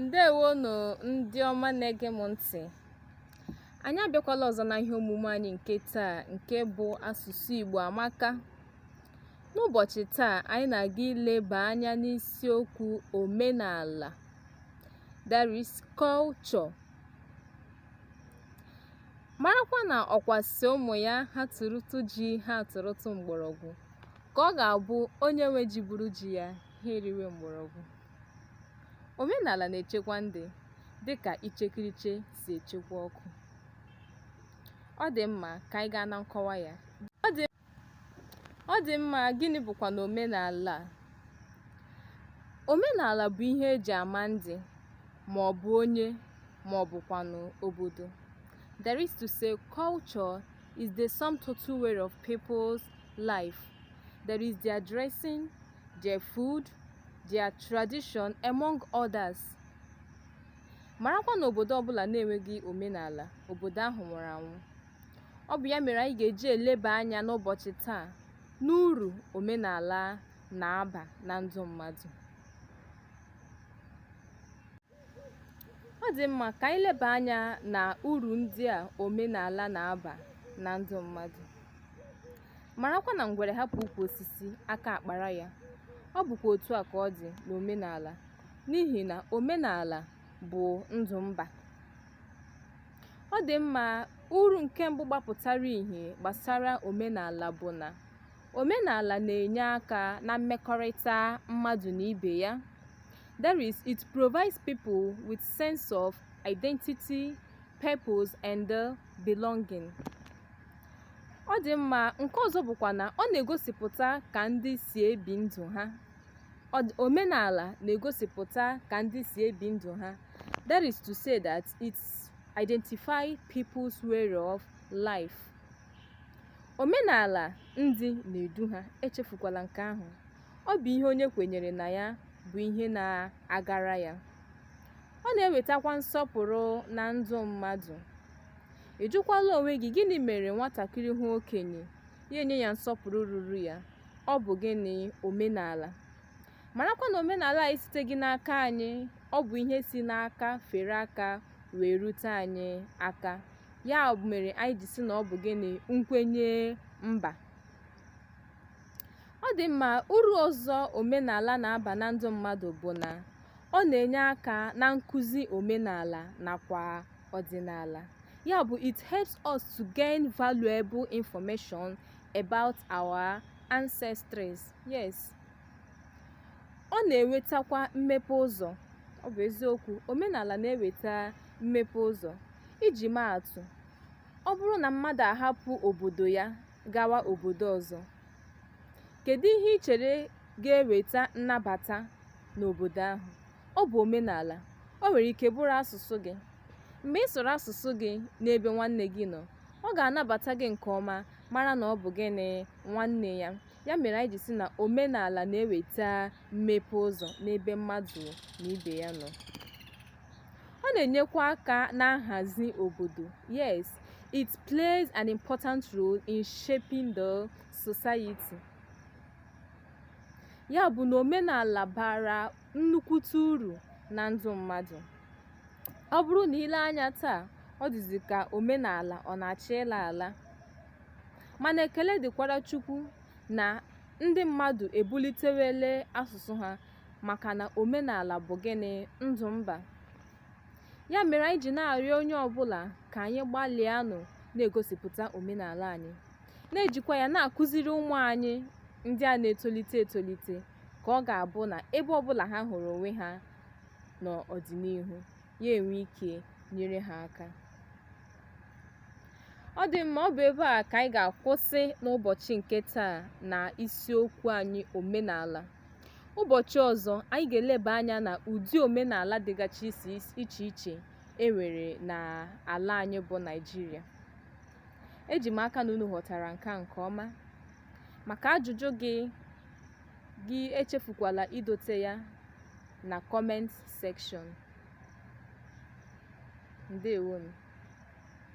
ndeewonụ ndị ọma na-ege m ntị anyị abịakwala ọzọ na ihe omume anyị nke taa nke bụ asụsụ Igbo amaka n'ụbọchị taa anyị na-aga ileba anya n'isiokwu omenala that is culture marakwa na ọkwa sị ụmụ ya ha tụrụtụ ji ha tụrụtụ mgbọrọgwụ ka ọ ga-abụ onye nwe ji buru ji ya ha eriwe mgbọrọgwụ. Omenala na-echekwa ndị dị ka ichekiriche si echekwa ọkụ. Ọ dị mma ka anyị gaa na nkọwa ya. Ọ dị ọ dị mma gịnị bụkwa na omenala a? Omenala bụ ihe eji ama ndị ma ọ bụ onye ma ọ bụkwanụ obodo. That is to say culture is the sum total way of people's life. That is their dressing, their food, their tradition among others. Marakwa na obodo ọbụla na-enweghị omenala, obodo ahụ nwụrụ anwụ. Ọ bụ ya mere anyị ga-eji eleba anya n'ụbọchị taa n'uru omenala na-aba na ndụ mmadụ. ọ dị mma ka anyị leba anya na uru ndị a omenala na-aba na ndụ mmadụ marakwa na ngwere hapụ ukwu osisi aka akpara ya ọ bụkwa otu a ka ọ dị n'omenala n'ihi na omenala bụ ndụ mba ọ dị mma uru nke mbụ gbapụtara ihe gbasara omenala bụ na Omenala na-enye aka na mmekọrịta mmadụ na ibe ya, that is, it provides people with sense of identity, purpose, and uh, belonging. Ọ dị mma, nke ọzọ bụkwa na ọ- omenala na-egosipụta ka ndị si ebi ndụ ha, that is to say that it identifies people's way of life. Omenala ndị na-edu ha echefukwala nke ahụ. Ọ bụ ihe onye kwenyere na ya bụ ihe na-agara ya. Ọ na-ewetakwa nsọpụrụ na ndụ mmadụ. Ị jụkwala onwe gị gịnị mere nwatakịrị hụ okenye ya enye ya nsọpụrụ ruru ya? Ọ bụ gịnị? Omenala. Marakwa na omenala a esiteghị n'aka anyị, ọ bụ ihe si n'aka fere aka wee rute anyị aka. ya mere anyị ji sị na ọ bụ gịnị nkwenye mba ọ dị mma uru ọzọ omenala na-aba na ndụ mmadụ bụ na ọ na-enye aka na nkụzi omenala nakwa ọdịnala ya bụ it helps us to gain valuable information about our ancestors yes ọ na-ewetakwa mmepe ụzọ ọ bụ eziokwu omenala na-eweta mmepe ụzọ iji maa atụ ọ bụrụ na mmadụ ahapụ obodo ya gawa obodo ọzọ kedu ihe ị chere ga-eweta nnabata n'obodo ahụ ọ bụ omenala o nwere ike bụrụ asụsụ gị mgbe ị sụrụ asụsụ gị n'ebe nwanne gị nọ ọ ga-anabata gị nke ọma mara na ọ bụ gịnị nwanne ya Ya mere anyị ji sị na omenala na-eweta mmepe ụzọ n'ebe mmadụ na ibe ya nọ. Ọ na-enyekwa aka na nhazi obodo. Yes, it plays an important role in shaping the society. Ya bụ na omenala bara nnukwute uru na ndụ mmadụ. Ọ bụrụ na i lee anya taa, ọ dịzi ka omenala ọ na-achọ ịla ala. mana ekele dịkwara Chukwu na ndị mmadụ ebulitewele asụsụ ha maka na omenala bụ gịnị ndụ mba ya mere anyị ji na-arịọ onye ọbụla ka anyị gbalịanụ na-egosipụta omenala anyị na-ejikwa ya na-akụziri ụmụ anyị ndị a na-etolite etolite ka ọ ga-abụ na ebe ọbụla ha hụrụ onwe ha n'ọdịnihu ya enwee ike nyere ha aka ọ dị mma ọ bụ ebe a ka anyị ga-akwụsị n'ụbọchị nke taa na isiokwu anyị omenala ụbọchị ọzọ anyị ga-eleba anya na ụdị omenala dịgachi iche iche e nwere na ala anyị bụ naijiria eji m aka na unu ghọtara nke nke ọma maka ajụjụ gị gị echefukwala idote ya na comment section. Ndewonu.